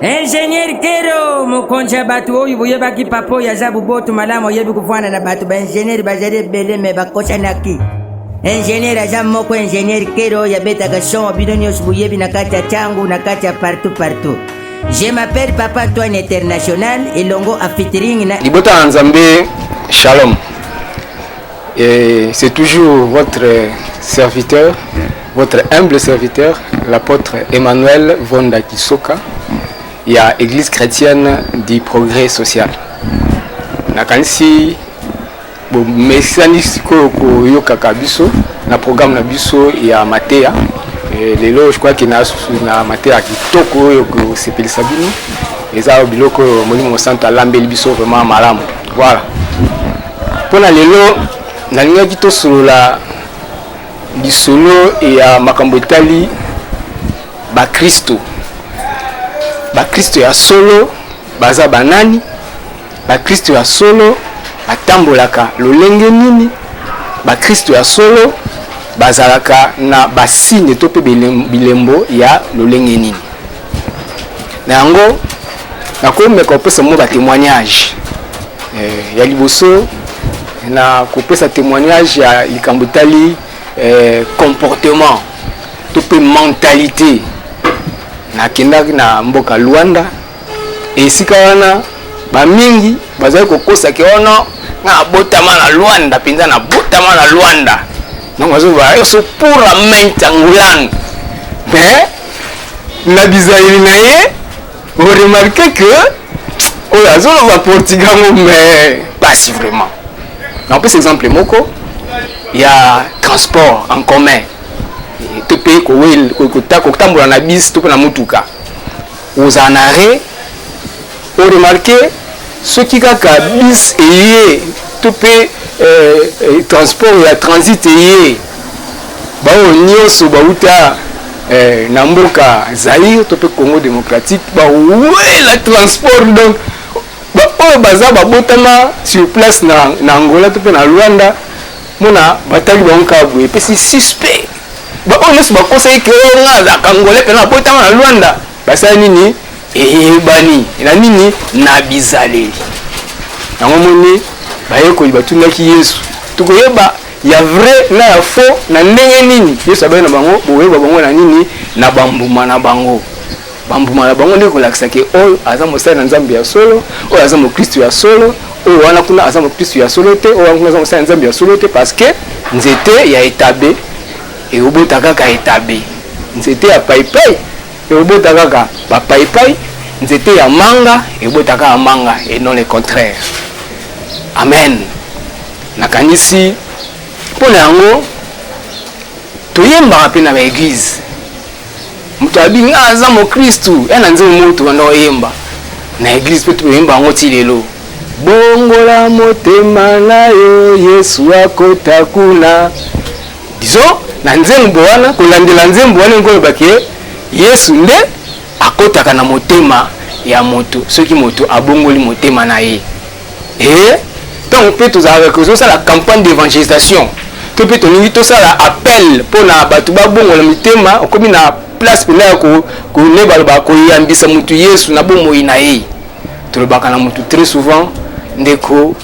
Ingenieur Kero mokonzi ya bato oyo boyebaki papa oyo aza boboto malamu oyebi kofanda na bato baingenieur bazali ebele me bakosanaki ingenieur aza moko ingenieur Kero oyo abetaka son bino nyonso boyebi na kati ya ntango na kati ya partout partout je m'appelle papa Antoine international elongo afitring na libota ya nzambe shalom Et c'est toujours votre serviteur, votre humble serviteur, l'apôtre Emmanuel Vonda Kisoka, il y a Église chrétienne du progrès social. Nakansi bomesani sikoyo koyokaka biso na programme na biso ya mateya lelo je crois que na mateya kitoko oyo kosepelisa bino eza biloko oyo molimo mosantu alambeli biso vraiment malamu voilà Mpo na lelo nalingaki tosolola lisolo ya makambo etali bakristo bakristo ya solo baza banani bakristo ya solo batambolaka lolenge nini bakristo ya solo bazalaka na basine to mpe bilembo ya lolenge nini na yango nakomeka kopesa mwa ba témoignage eh, ya liboso na kopesa témoignage ya likambo etali eh, comportement to mpe mentalité nakendaki na mboka luanda esika wana bamingi bazali kokosaki wana oh nga abotama na luanda mpenza nabotama na luanda donc bazoba yo so pura main tangulan mais na bizaleli na ye oremarke ke oyo azoloba portugal ngo mais pasi vraiment napesa exemple moko ya transport en commun to mpe kotambola na bisi to mpe na motuka ozala na arret O remarquer soki kaka bus eye to pe transport ya transit eye ba oyo nionso ba wuta na mboka Zaïre to pe Congo democratique ba wuela transport donc ba oyo baza ba botama sur place na Angola to pe na Luanda mona ba tali bango kaka boye pe c'est suspect ba oyo nionso ba kosaki que o nga azalaka Angolais pena na botama na Luanda Basali nini? Eyebani na nini? Na bizaleli. Yango moni bayekoli batunaki Yesu, tokoyeba ya vrai na ya faux na ndenge nini? Yesu abaki na bango, bokoyeba bango na nini? Na bambuma na bango. Bambuma na bango nde kolakisa ke oyo aza mosali na Nzambe ya solo, oyo aza mokristu ya solo, oyo wana kuna aza mokristu ya solo te, oyo wana kuna aza mosali na Nzambe ya solo te, parce que nzete ya etabe Ekobota kaka etabe, nzete ya paipai ekobota kaka ba paipai, nzete ya manga ekobota kaka manga et non le contraire. Amen. Nakanisi mpo na yango toyembaka mpe na ba eglise moto abi nga aza mokristu ya na nzembo moko tobanda koyemba na eglize mpe toyemba yango ti lelo bongola motema na yo yesu akota kuna Disons, na nzembo wana, kolandela nzembo wana ekoloba ke Yesu nde akotaka na motema ya moto soki moto abongoli motema na ye e ntango mpe tozalaka kozosala campagne d'évangélisation to mpe tolingi tosala appel mpo na bato babongola mitema okomi na place mpenza ya kone baloba koyambisa motu yesu na bomoi na ye tolobaka na motu très souvent ndeko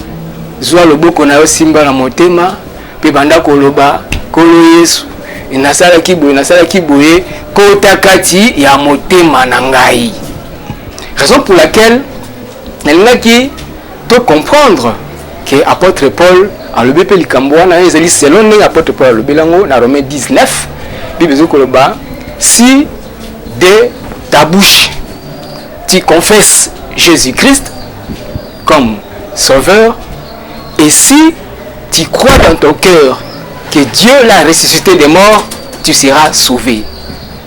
zwa loboko na yo simba na motema Mpe banda koloba, Nkolo Yesu, nasalaki boye, nasalaki boye, kota kati ya motema na ngai. Raison pour laquelle nalingaki to comprendre que apôtre Paul alobi mpe likambo wana ezali selon ndenge apôtre Paul alobeli yango na Romain 19 Bible ezo koloba si de ta bouche tu confesses Jésus-Christ comme sauveur et si tu crois dans ton cœur que Dieu l'a ressuscité des morts, tu seras sauvé.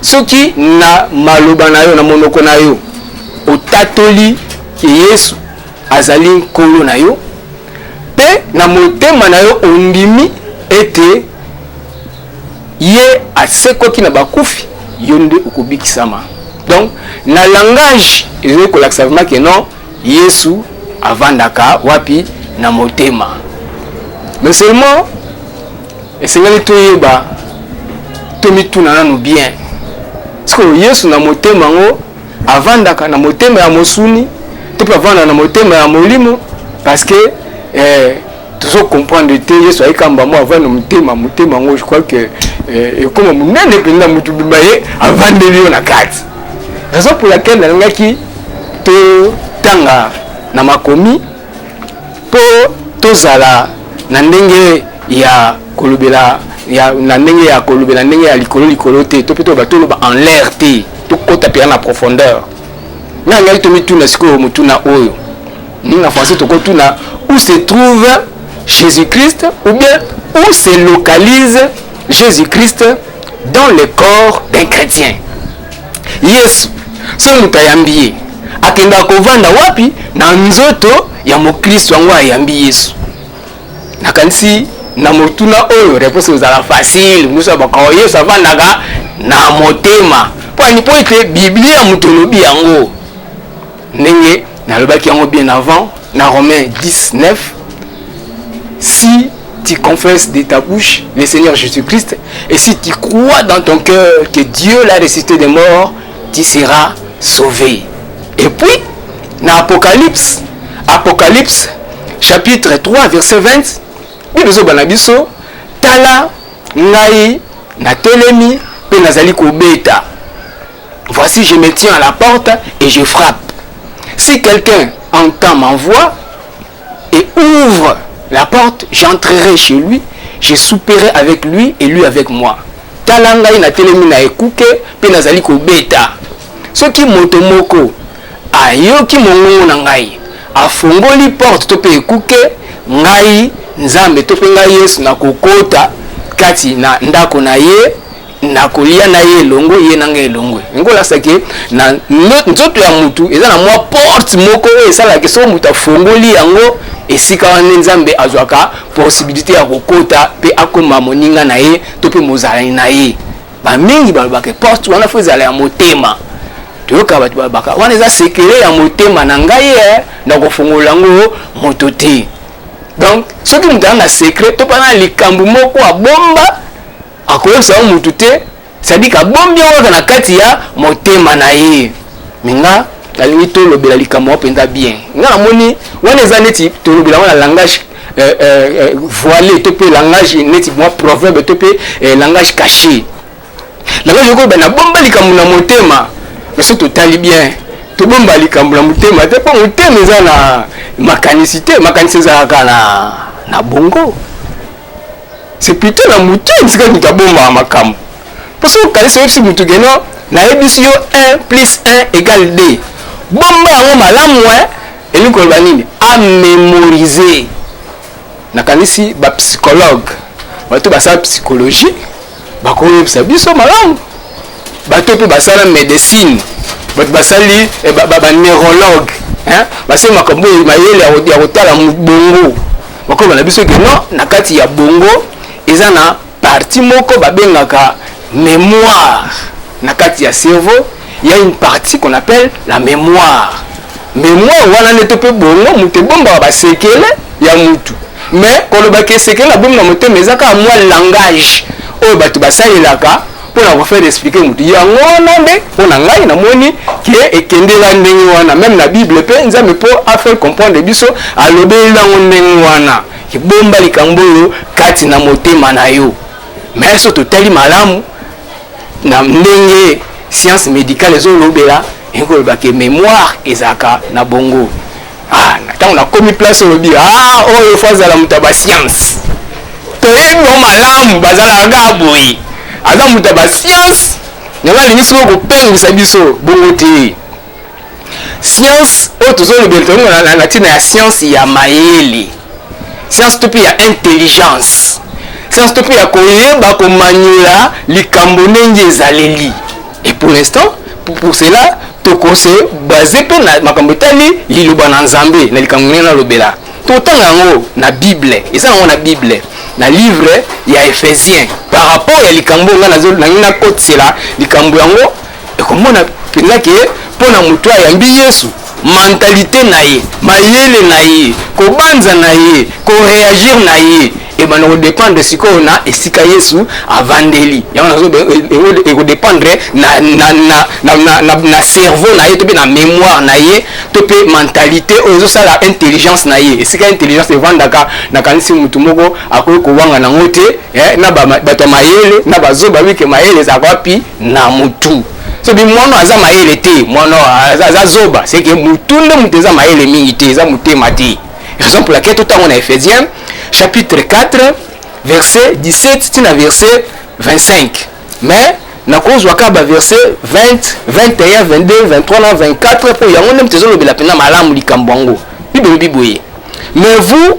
soki na maloba na yo na monoko na yo otatoli ke yesu azali nkolo na yo mpe na motema na yo ondimi ete ye asekwaki na bakufi yo nde okobikisama donc na langage ezoki kolakisa vraimen ke non Yesu avandaka wapi na motema? Mais seulement esengeli toyeba tomituna nanu bien sikoyo Yesu na motema yango avandaka na motema ya mosuni to mpe avanda na motema ya molimo parce que eh, tozo comprendre te yesu aye kamba mo avanda motema motema yango je crois que eh, ekoma monene mpenza motu bima ye avandeli yo na kati raison pour laquelle nalingaki totanga na makomi mpo tozala na ndenge ya kolobela ya, na ndenge ya kolobela ndenge ya likolo likolo te to mpe toloba toloba en l'air te tokota mpenza na profondeur ngai ngai tomituna sikoyo motuna oyo Ndenge na français toko tuna où se trouve Jésus-Christ ou bien où se localise Jésus-Christ dans le corps d'un chrétien. Yesu soki moto ayambi ye akendaka kovanda wapi na nzoto ya mokristo yango ayambi yesu nakanisi na motuna oyo reponse ezala facile mosu ya bakao yesu avandaka na motema mpo ete biblia moto olobi yango Ndenge nalobaki yango bien avant na Romain 10 9 si tu confesses de ta bouche le Seigneur Jésus-Christ et si tu crois dans ton cœur que Dieu l'a ressuscité des morts, tu seras sauvé. Et puis, dans Apocalypse, Apocalypse chapitre 3 verset 20, Bible ezoba na biso, tala ngai natelemi mpe nazali kobeta Voici je me tiens à la porte et je frappe. Si quelqu'un entend ma voix et ouvre la porte, j'entrerai chez lui, je souperai avec lui et lui avec moi. Tala ngai na telemi na ekuke pe nazali kobeta. Soki moto moko ayoki mongongo na ngai, afongoli porte to pe ekuke, ngai Nzambe to pe ngai Yesu nakokota kati na ndako na ye nakolia na ye elongo ye na ngai elongo yango olakisa ke na nzoto ya motu eza na mwa porte moko oyo esalaka soki moto afongoli yango esika wana nde nzambe azwaka posibilité ya kokota mpe akoma moninga na ye to mpe mozalani na ye bamingi balobaka porte wana fo ezala ya motema toyoka bato balobaka wana eza sekele ya motema na ngai ye eh, na kofongola yango moto te donc soki moto aza na sekre to mpe na likambo moko abomba akoyebisa yango mutu te sadika abombi yango kaka na kati ya motema na ye me nga nalingi tolobela likambo yango mpenza bien nga namoni wana eza neti tolobela yango na langage euh, euh, euh, voile to mpe langage neti mwa proverbe to mpe euh, langage caché langage okoyeba nabomba likambo na motema me soki totali bien tobomba likambo na motema te mpo motema eza na makanisi te makanisi ezalaka na, na bongo C'est plutôt na mutu etika mutu abomaka makambo. Mpo soki okanisi oyebisi mutu ke non nayebisi yo 1 plus 1 égale 2 bomba yango malamu eh? elingi koloba nini amemorize nakanisi bapsychologue bato basala psychologie bakoyebisa biso malamu bato mpe basala medecine bato basali eh, baneurologue basali makambo oyo mayele ya kotala bongo bakoyeba na biso ke non na kati ya bongo eza na parti moko babengaka memoire na kati ya cerveau il y a une partie qu'on appelle la mémoire mémoire wana nde to mpe bongo moto ebombaka basekele ya mutu mais kolobaka esekele na bomi na motema eza kaka mwa langage oyo bato basalelaka mpo na kofaire explike motu yango wana nde mpo na ngai namoni ke ekendela ndenge wana meme na bible mpe nzambe mpo afaire comprendre biso alobeli yango ndenge wana kibomba likambo oyo kati na motema na yo mais so totali malamu na ndenge science médicale ezolobela ekolobela ke mémoire ezalaka na bongo ah, ntango nakomi place olobi ah, oyo fo azala moto ya bascience toyebi bango malamu bazalaka kaka boye aza moto ya bascience yango alingi soko kopengwisa biso bongo te Science oyo tozolobela tolongo na, na, na ntina ya science ya mayele science to mpe ya intelligence science to mpe ya koyeba komanyola likambo ndenge ezaleli et pour l'instant pour, pour cela tokose base mpe na makambo etali liloba na nzambe na likambo ndenge nalobela totanga yango na bible eza yango na bible na livre ya ephésien par rapport ya likambo ngai nangi nakotisela likambo yango ekomona mpenza ke mpo na moto ayambi yesu mentalite na ye mayele na ye kobanza na ye koreagir na ye ebanda eh kodépendre sikoyo na esika yesu avandeli yango nazo ekodépendre eh, eh, na, na, na, na, na, na, na cerveau na ye to mpe na mémoire na ye to mpe mentalité oyo ezosala intelligence na ye esika intelligence evandaka nakanisi motu moko akoki kowanga nango te eh, na bato ya mayele na bazoba wike mayele ezalaka wapi na mutu soki mwana aza mayele te mwana aza zoba seke mutu nde moto eza mayele mingi te eza motema te raison pour laquelle totango na ephésiens chapitre 4 verset 17 tina verset 25 mais nakozwa kaka baverse 20 21 22 23 na 24 mpo yango nde moto ezolobela mpenza malamu likambo yango bible elobi boye mais vous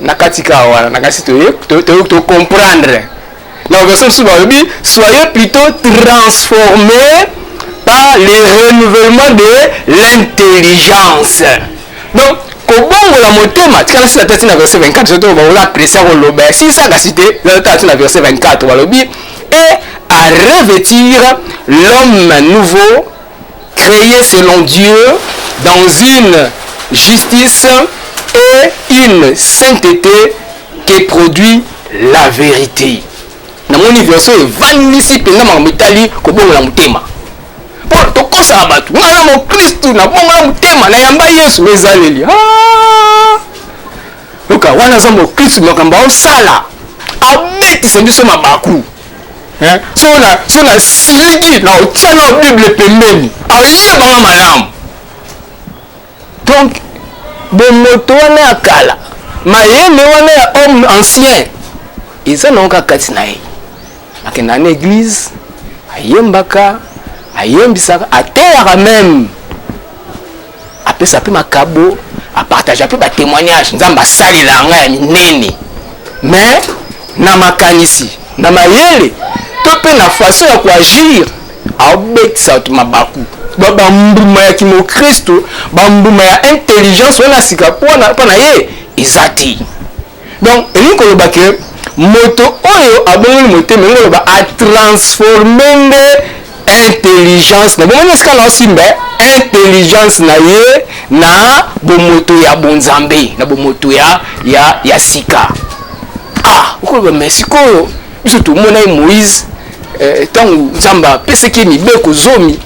na kati ka wana na kasi to comprendre na version mosusu balobi soyez plutôt transformé par le renouvellement de l'intelligence donc kobongola motema tika nasila tati na verset 24 soki bakola apprécia koloba ya sisa kasi te tati na verset 24 balobi et à revêtir l'homme nouveau Cree selon Dieu dans une justice et une saintete que produit la verite. Namoni version evandisi mpenza makambo etali kobongola motema. Mpo tokosaka bato, ngai na mokristu nabongola motema, nayamba Yesu ezaleli. Ah! Yoka wana aza mokristu makambo aosala abetisa biso mabaku. eh? so na so na siliki na otya na bible pembeni ayebanga malamu donc bomoto wana ya kala mayele wana ya homme ancien eza nango kaka kati na ye akenda na eglise ayembaka ayembisaka ateyaka meme apesa pe makabo apartage pe ba témoignage nzambe asalela yanga ya minene mais na makanisi na mayele to pe na façon ya koagir aobetisa bato mabaku bambuma ya kimokristo bambuma ya intelligence wana sika mpo na ye eza te Donc, elingi koloba que moto oyo abongoli motema elingi koloba atransforme nde intelligence na bomoni esika naosimba intelligence na ye na bomoto ya bonzambe na bomoto ya, ya, ya sika ah okoloba me sikoyo biso tomona ye moïse ntango eh, nzambe apesaki ye mibeko zomi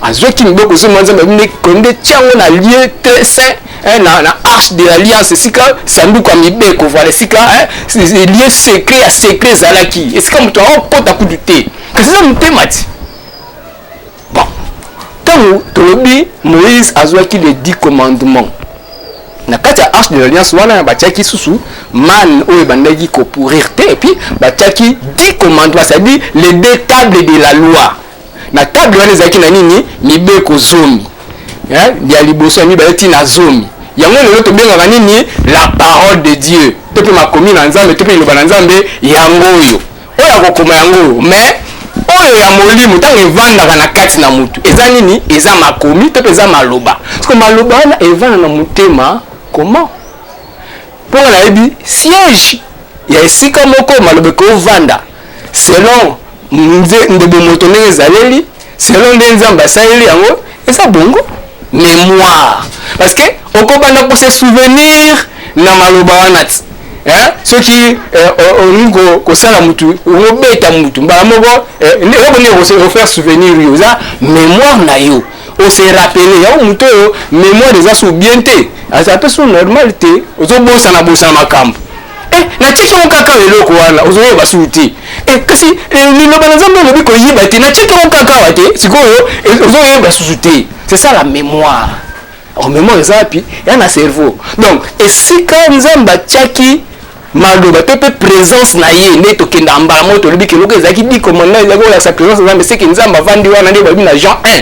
azwaki mibeko zomi ya nzambe abimi konde tyango na lieu te saint eh, na, na arche de l'alliance esika sanduku ya mibeko voilà esika eh, lieu secret ya secret ezalaki esika moto akokota kutu te kasi eza motema ti bon ntango tolobi moïse azwaki les dix commandements na kati ya arche de l'alliance wana batiaki susu mane oyo ebandaki kopurir te epuis batiaki dix commandements c'est-à-dire les deux tables de la loi Na table wana ezalaki na nini? Mibeko zomi. Eh, ya liboso ya mibale ti na zomi. Yango lelo tobengaka nini? La parole de Dieu. To pe makomi na Nzambe, to pe liloba na Nzambe yango oyo. Oyo akokoma yango oyo. Mais oyo ya molimo ntango evandaka na kati na motu eza nini eza makomi to mpe eza maloba soko maloba wana evanda na motema comment mpo nga nayebi siège ya esika moko maloba ekovanda selon nze nde bomoto ndenge ezaleli selon nde nzambe asaleli yango eza bongo mémoire parce que okobanda kose souvenir na maloba wana ti eh? soki eh, olingi ko, kosala mutu obeta mutu mbala moko eh, eloko nini okofaire souvenir yo oza mémoire na yo ose rappele yango moto oyo mémoire eza so bien te aza mpe so normal te ozobosana bosana makambo Eh, natiki yango kaka awa eloko wana ozoyeba basusu te eh, kasi eh, liloba na nzambe olobi koyiba te natiki yango kaka awa te sikoyo ozoyeba basusu te c'est ça la mémoire o oh, mémoire eza wapi ya na cerveau donc esika nzambe atiaki maloba to mpe présence na ye nde tokenda mbala moko tolobi keloko ezalaki dikomanna ezalaki kolakisa présence nzambe seke nzambe avandi wana nde balobi na jean 1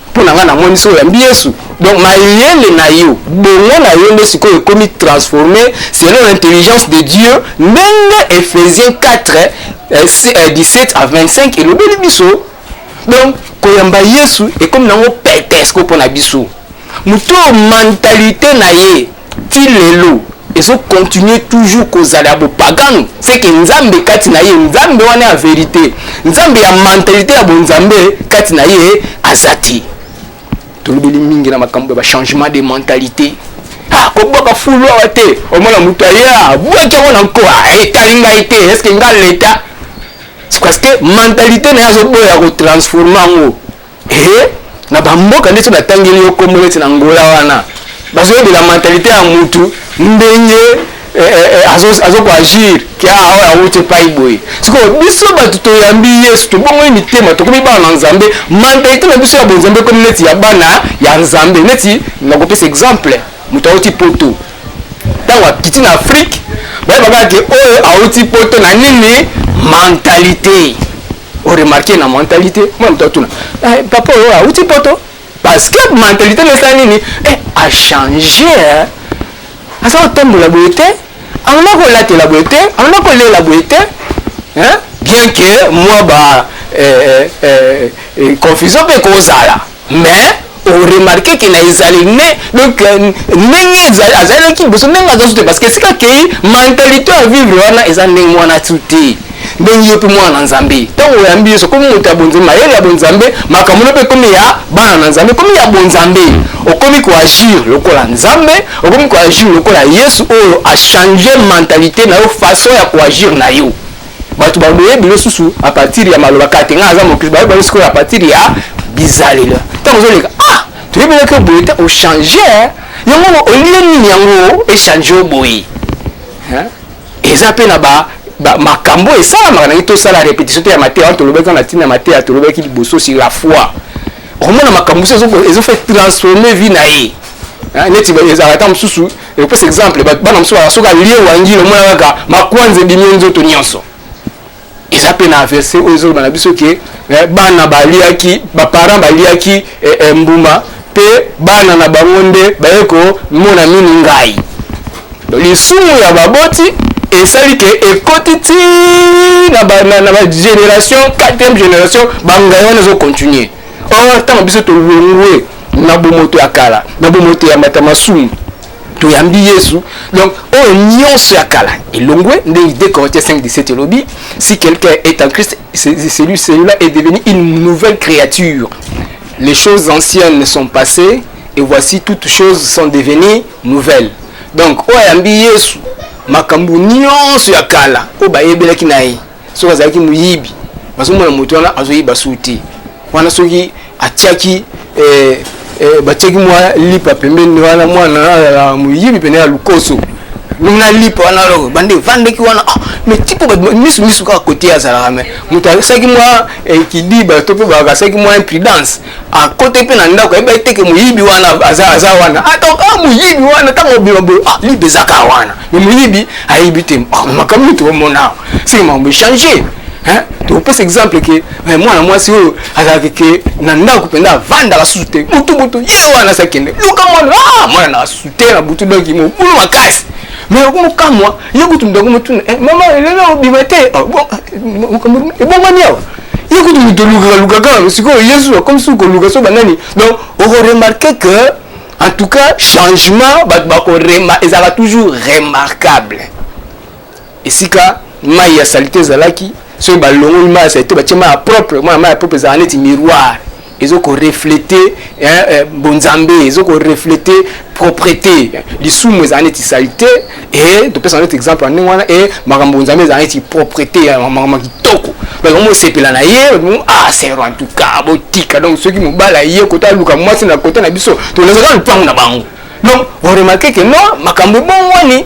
mpo na ngai na moni soki oyambi yesu donc mayele na yo bongo na yo nde sikoyo ekomi transforme selon l'intelligence de dieu ndenge ephésien 4 eh, 17 eh, à 25 elobeli biso donc koyamba yesu ekomi nango petesco mpo na biso moto oyo mentalite na ye ti lelo ezo continuer toujours kozala ya bopagano seke nzambe kati na ye nzambe wana ya verite nzambe ya mentalite ya bonzambe kati na ye aza te tolobeli mingi na makambo ya bachangement de mentalite ah, kobwaka fulu awa te omona moto aya abwaki yango na nko ah, etali ngai te eske ngai leta parce que mentalite na ye azoboya kotransforme yango Hee na ba mboka ndeti batangeli yo kombo neti na Angola wana bazoyebela mentalite ya mutu ndenge eh, eh, eh, azo, azo ko agir ke ah, oyo awuti epai boye sikoyo biso bato toyambi yesu tobongoli mitema tokomi bana na nzambe mentalite na biso ya bonzambe ekomi neti ya bana ya nzambe neti nakopesa exemple moto awuti poto ntango akiti na afrike bayebaka ke oyo awuti poto na nini mentalite o remarquer na mentalite moi moto atuna eh, papa oyo auti poto parce que mentalite na esala nini eh, a change eh. aza kotambola boye te amona kolatela boye te amona kolela boye te bien que mwa ba eh, eh, eh, eh confusion mpe ekozala Mais o remarquer que na ezaleli ne donc ndenge ezali azali na kiboso ndenge aza sute parce que esika akei mentalite ya vivre wana eza ndenge mwana tu te ndenge yo mpe mwana na nzambe ntango oyambi yesu okomi moto ya bonzambe mayele ya bonzambe makambo no mpe ekomi ya bana na nzambe ekomi ya bonzambe okomi koagir lokola nzambe okomi koagir lokola yesu oyo achange mentalite na yo façon ya koagir na yo bato baboye bilo susu a partir ya maloba kate ngai aza mokristo bayebi bango sikoyo a partir ya bizalelo ntango ozoleka ah toyebi eleki oboye te ochange yango olie nini yango echange oboye eza mpe na ba makambo esalamaka nangi tosala repetition te ya mateya wana tolobaki wana ntina ya mateya tolobaki liboso si la foi okomona makambo mosusu ezofa transforme vie na ye neti ezalaka ntango mosusu ekopesa exemple bana mosusu baa soki alie wangila omona kaka makwanza ebimi ye nzoto nyonso eza mpe na verse oyo ezoloba na biso ke eh, bana baliaki baparent baliaki eh, eh, mbuma mpe bana na bango nde baye komona mini ngai lisumu ya baboti esali ke ekoti ti na bagénération 4e génération bangai wana ezocontinue or ntango biso tolongwe na bomoto ya kala na bomoto ya mbata masumu toyambi yesu donc oyo nyonso ya kala elongwe ndenge 2 corinthiens 5 17 elobi si quelqu'un est en christ celui celui-là est devenu une nouvelle créature les choses anciennes sont passées et voici toutes choses sont devenues nouvelles donc oyo ayambi yesu makambo nyonso ya kala oyo bayebelaki na ye soki azalaki moyibi bazomona moto wana azoyiba su te wana soki atiaki eh, eh, batiaki mwa lipa pembeni wana mwana ya moyibi pene ya lukoso na lipa wana loko bande evandaki wana ah, mais tipo misu misu kaka kote azalaka me moto asaki mwa eh, kidiba to mpe bakasaki mwa imprudence akote mpe na ndako ayebi aye teke moyibi wana aza aza wana atonka ah, ah, moyibi wana ntango obima boye ah libe ezaka wana me moyibi ayebi te ah, makambo nini tokomona seke makambo echange topesa exemple ke eh, mwana mwasi oyo azalaki ke na ndako mpenza avandaka susu te butubutu ye wana sakende luka mwana mwana na susu te na butu donki mobulu makasi mais okomokamwa ye kutu ndako motuna eh, mama elelo obima te ebongwani awa ye kutu moto olukaka luka kaka sikoyo yesu akomi suki koluka so banani donc okoremarke que en tout cas changement bato bakorema ezalaka toujours remarquable esika mai ya salite ezalaki soki balongoli mai ya salite batie mai ya propre mai ya propre ezalaka neti miroir ezo ko reflete eh, bonzambe ezo ko reflete propreté lisumu ezala neti salite e topesa neti exemple ya ndenge wana e makambo bonzambe ezala neti propreté ya makambo ya kitoko donc omo osepela na ye ah sero en tout cas botika donc soki mobali aye kota aluka mwasi na kota na biso tolezaka lupango na bango donc oremarke ke no makambo ebongwani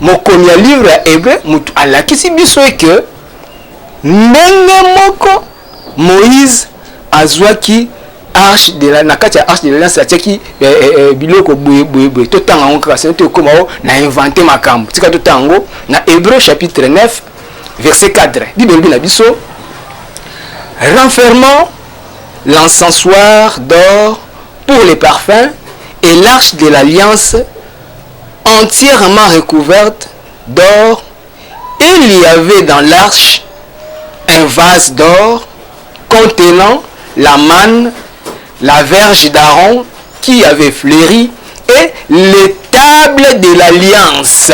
Mokomi ya livre ya Ebre moto alakisi biso eke ndenge moko Moïse azwaki arche de la na kati ya arche de l'alliance atiaki eh, eh, eh, biloko boye boye boye totanga yango kaka sino tokoma o na invente makambo tika totanga yango na hébreu chapitre 9 verset 4 bible elobi na biso renfermant l'encensoir d'or pour les parfums et l'arche de l'alliance entièrement recouverte d'or, il y avait dans l'arche un vase d'or contenant la manne, la verge d'Aaron qui avait fleuri et les tables de l'alliance.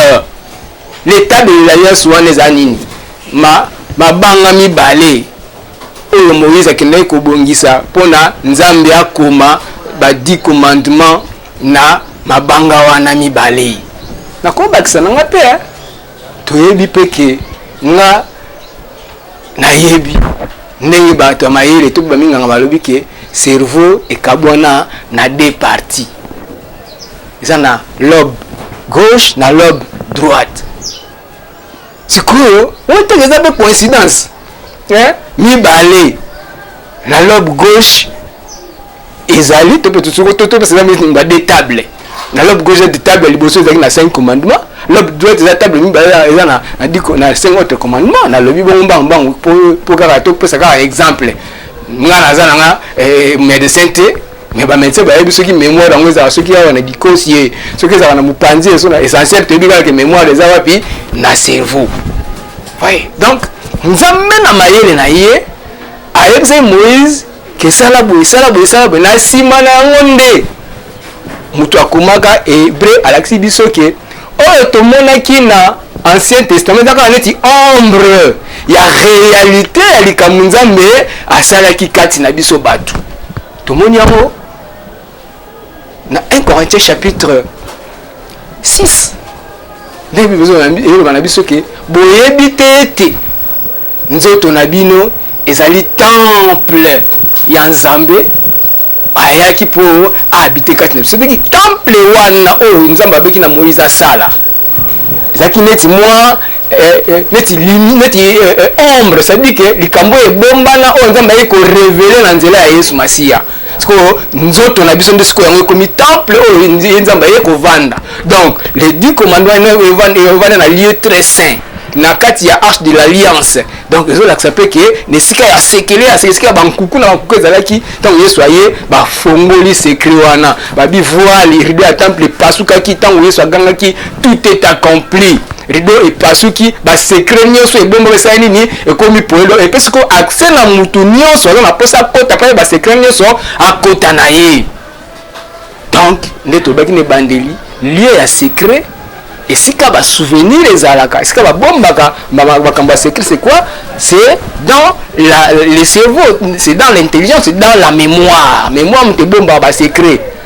Les tables de l'alliance wana eza nini? Ma mabanga mibale oyo Moïse akendaki kobongisa mpo na Nzambe akoma ba dix commandements na mabanga wana mibale nakobakisa na nga mpe eh. toyebi mpe ke nga nayebi ndenge bato ya mayele to baminganga balobi ke cerveau ekabwana na deux parties eza na lobe gauche na lobe droite sikoyo oteke eza mpe coïncidence eh? mibale na lobe gauche ezali to peut soko to to parce que ba des tables na lobe gauche de table liboso ezali na 5 commandements lobe droite eza table mibale eza na na diko na 5 autres commandements na lobi bongo mbangu mbangu po po kaka to pesa kaka exemple nga naza na nga eh, médecin te mais ba médecin bayebi soki mémoire yango ezala soki awa na dikosi ye soki ezala na mopanzi eso na essentiel toyebi kaka ke mémoire eza wapi na cerveau oui donc nzambe na mayele na ye ayebisaki moïse ke sala boye sala boye sala boye na nsima na yango nde moto akomaka hebreu alakisi biso ke oyo tomonaki na ancien testament eza kaka neti ombre ya réalité ya likambo nzambe asalaki kati na biso bato tomoni yango na 1 corinthiens chapitre 6 nde biloba na biso ke boyebi te ete Nzoto na bino ezali temple ya Nzambe ayaki mpo abite kati na biso. Soki temple wana oyo Nzambe abeki na Moïse asala ezalaki neti mwa eh, eh, neti neti eh, ombre, c'est-à-dire que likambo ebombana oyo Nzambe ayaki korevele na nzela ya Yesu Masiya. sikoyo nzoto na biso nde sikoyo yango ekomi temple oyo ye nzambe aye kovanda donc les dix commandement evanda na lieu très saint na kati ya arche de l'alliance donc ezolakisa mpe ke na esika ya sekele ya esika ya bankuku na bankuku ezalaki ntango yesu aye bafongoli sekre wana babi voile rido ya temple epasukaki ntango yesu agangaki tout est accompli rido epasuki basekre nyonso ebomba esali nini ekomi poelo epesi ko accès na motu nyonso aza na mposa akota mpe basekre nyonso akota na ye donc nde tolobaki na ebandeli lieu ya secret esika basouvenir ezalaka esika babombaka makambo ya secret c'est quoi c'est dans la, le cerveau c'est dans l'intelligence c'est dans la mémoire mémoire moto ebombaka basecret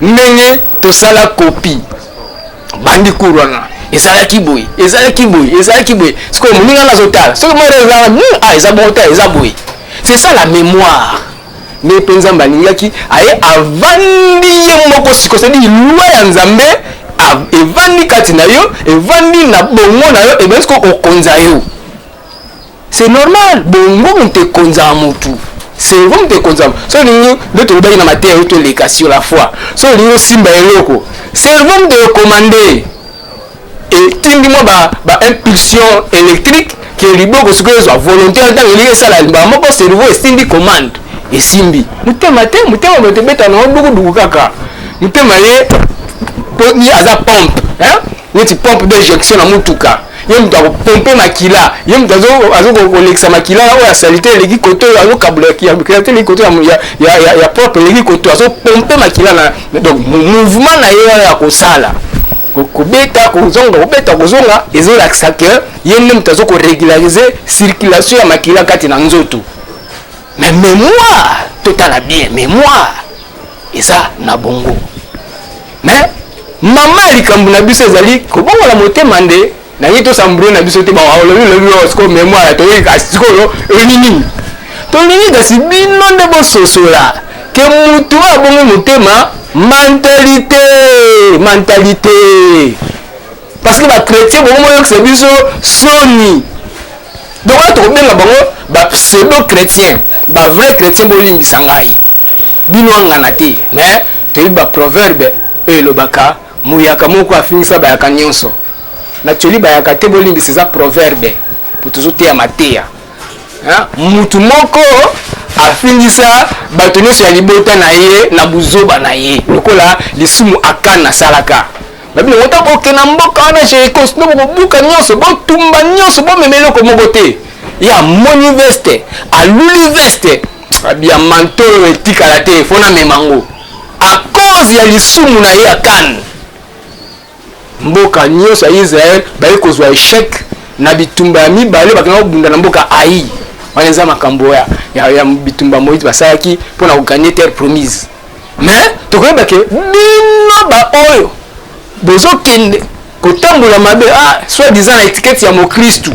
ndenge tosala kopi bandi cour wana ezalaki boye ezalaki boye ezalaki boye sikoyo moninga nga azotala soki mwana ezalaka hmm, ah, eza bongo te eza boye c'est ça la mémoire nde mpe nzambe alingaki aye avandi ye moko siko sedi lwa ya nzambe evandi kati na yo evandi na bongo na yo ebandi siko okonza yo C'est normal, bongo moto ekonzaka motu cerveau moto ekonzaka so olingi nde tolobaki na mateya yo toleka sur la foi so olingi osimba eloko cerveau moto ekomande etindi mwa ba, ba impulsion électrique ke liboko sikoyo ezwa volonté ya ntango elingi esala mbala moko cerveau esindi commande esimbi motema te motema moto ebeta na yo dukuduku kaka motema ye aza pompe hein? neti pompe d'injection na motuka ye moto akopompe makila ye moto azokolekisa makila oyo asali te eleki koto oyo azokabula makila te eleki koto ya propre eleki koto azopompe makila na donc mouvement na ye wana ya kosala kobeta kozonga kobeta kozonga ezolakisa ke ye nde moto azokoregularize circulation ya makila kati na nzoto Mais mémoire, totala bien, mémoire eza na bongo. Mais mama ya likambo na biso ezali kobongola motema nde nangi tosambro na biso te baolobi lobi oyo sikoyo mémoire toyoki kasi sikoyo eloni nini tolingi kasi bino nde bososola ke motu oyo abongi motema mentalite mentalite parce que ba chrétien bongo boyokisa biso soni donc wana tokobenga bango ba pseudo chrétien ba vrai chrétien bolimbisa ngai bino angana te mais toyebi ba proverbe oyo elobaka muyaka moko afingisa bayaka nyonso na tioli bayaka te bolimbisa eza proverbe po tozoteya mateya mutu moko afingisa bato nyonso ya libota na ye na buzoba na ye lokola lisumu akana asalaka babino ota boke na mboka wana jericos nde bokobuka nyonso botumba nyonso bomema eloko moko te ya moni veste aluli veste abia manto oyo etikala te fo namema yango a cause ya lisumu na ye ya kane mboka nyonso ya israel baye kozwa echec na bitumba ya mibale bakenda kobunda na mboka ai wana eza makambo ya, ya, ya bitumba moïse basalaki mpo na koganye terre promise mais tokoyeba ke bino baoyo bozokende kotambola mabe ah, soit disant na etikete ya mokristu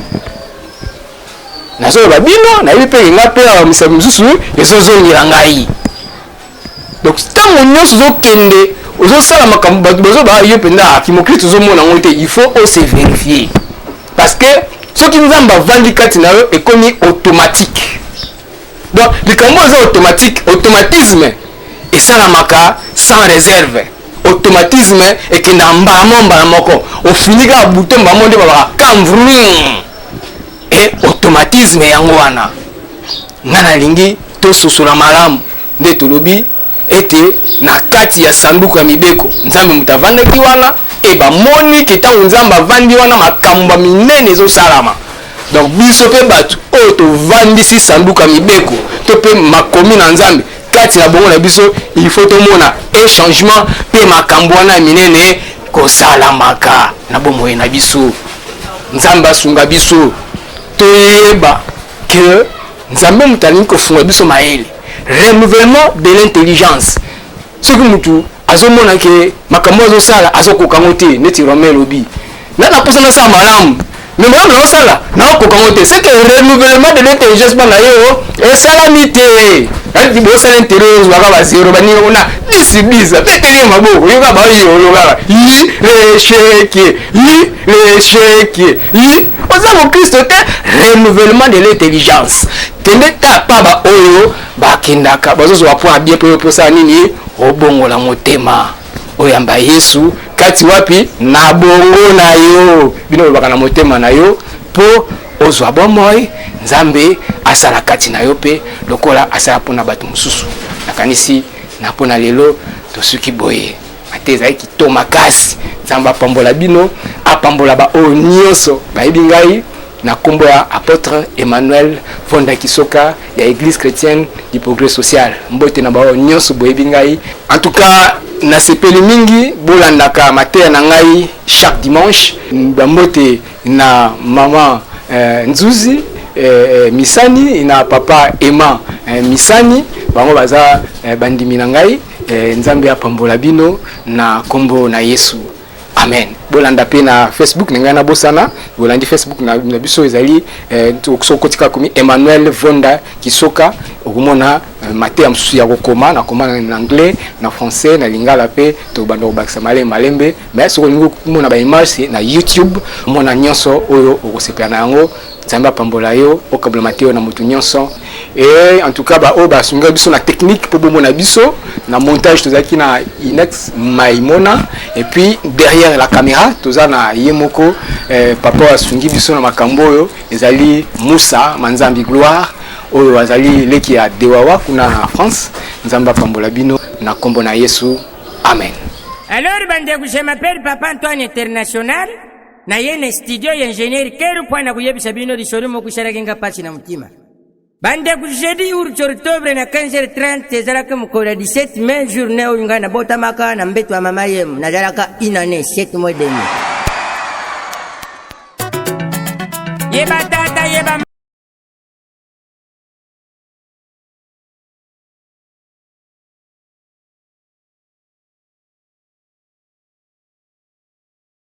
nazoloba bino nayebi mpe enga mpe awa misapi mosusu ezozongela ngai donc ntango nyonso ozokende ozosala makambo bato bazoba ah, yo mpenza ah, kimokristu ozomona yango te il faut ose verifier parce que soki nzambe avandi kati na yo ekomi automatique donc likambo eza automatique automatisme esalamaka sans réserve automatisme ekendaka mbala moko mbala moko ofini kaka buto mbala moko nde babaka kam vrum e automatisme yango wana nga nalingi tososola malamu nde tolobi ete na kati ya sanduku ya mibeko nzambe moto avandaki wana e bamoni ke ntango nzambe avandi wana makambo ya minene ezosalama donc biso mpe bato oyo tovandisi sanduku ya mibeko to mpe makomi na nzambe kati na bongo na biso il faut tomona e changement mpe makambo wana ya minene kosalamaka na bomoi na biso nzambe asunga biso toyeba ke nzambe moto alingi kosunga biso mayele renouvellement de l'intelligence soki mutu azomona ke makambo azosala azokoka yango te neti romain lobi na naposa nasala malamu me malamu naosala naokoka yango te seke renouvellement de l'intelligence bana yo esalami te ayiti bosala intere ozwaka bazero baninga kuna disibisa peteli ya maboko oyoka baoyolo kaka yi lesheke yi lesheke yi oza mokristo te renouvellement de l'intelligence Kende ta pa ba oyo ba kendaka bazo zwa point bien pe pe sa nini obongola motema oyamba Yesu kati wapi na bongo na yo bino olobaka na motema na yo po ozwa bomoi Nzambe asala kati na yo pe lokola asala pona bato mosusu nakanisi na pona lelo tosuki boye ata ezali kito makasi nzambe apambola bino apambola baoyo nyonso bayebi ngai na nkombo ya apôtre emmanuel fonda kisoka ya église chrétienne du progrès social mbote na baoyo nyonso boyebi ngai en tout cas nasepeli mingi bolandaka mateya na ngai chaque dimanche bambote na mama euh, nzuzi euh, euh, misani na papa emma euh, misani bango baza euh, bandimi na ngai Eh, nzambe apambola bino na kombo na yesu amen bolanda mpe na facebook na ngai nabosana bolandi facebook na, na biso ezali eh, soki okotika komi emmanuel vonda kisoka okomona eh, mateya mosusu ya kokoma nakoma na anglais na français na lingala mpe tobanda kobakisa malembe malembe mai soki olingi komona baimage na youtube omona nyonso oyo okosepela na yango nzambe apambola yo okabola mateyo na moto nyonso Et en tout cas, bah, oh, bah, biso na technique pour Bobo Nabiso, na montage, tout ça qui na Inex Maimona, et puis derrière la caméra, tout ça na Yemoko, eh, papa Sungi Biso na Makamboyo, Ezali Moussa, Manzambi Gloire, oyo azali leki ya Dewawa kuna na France, Nzamba Pambola Bino, na Kombo na Yesu, Amen. Alors, bande, je m'appelle Papa Antoine International. na ye na studio ya ingenieur keru mpo na koyebisa bino lisolo moko esalaki nga mpasi na motima bandeko jeudi urti octobre na 15h30 ezalaki mokolo ya 17 mai journée oyo ngai nabotamaka na mbeto ya mama yemo nazalaka une année 7 mois demi yeba tata yeba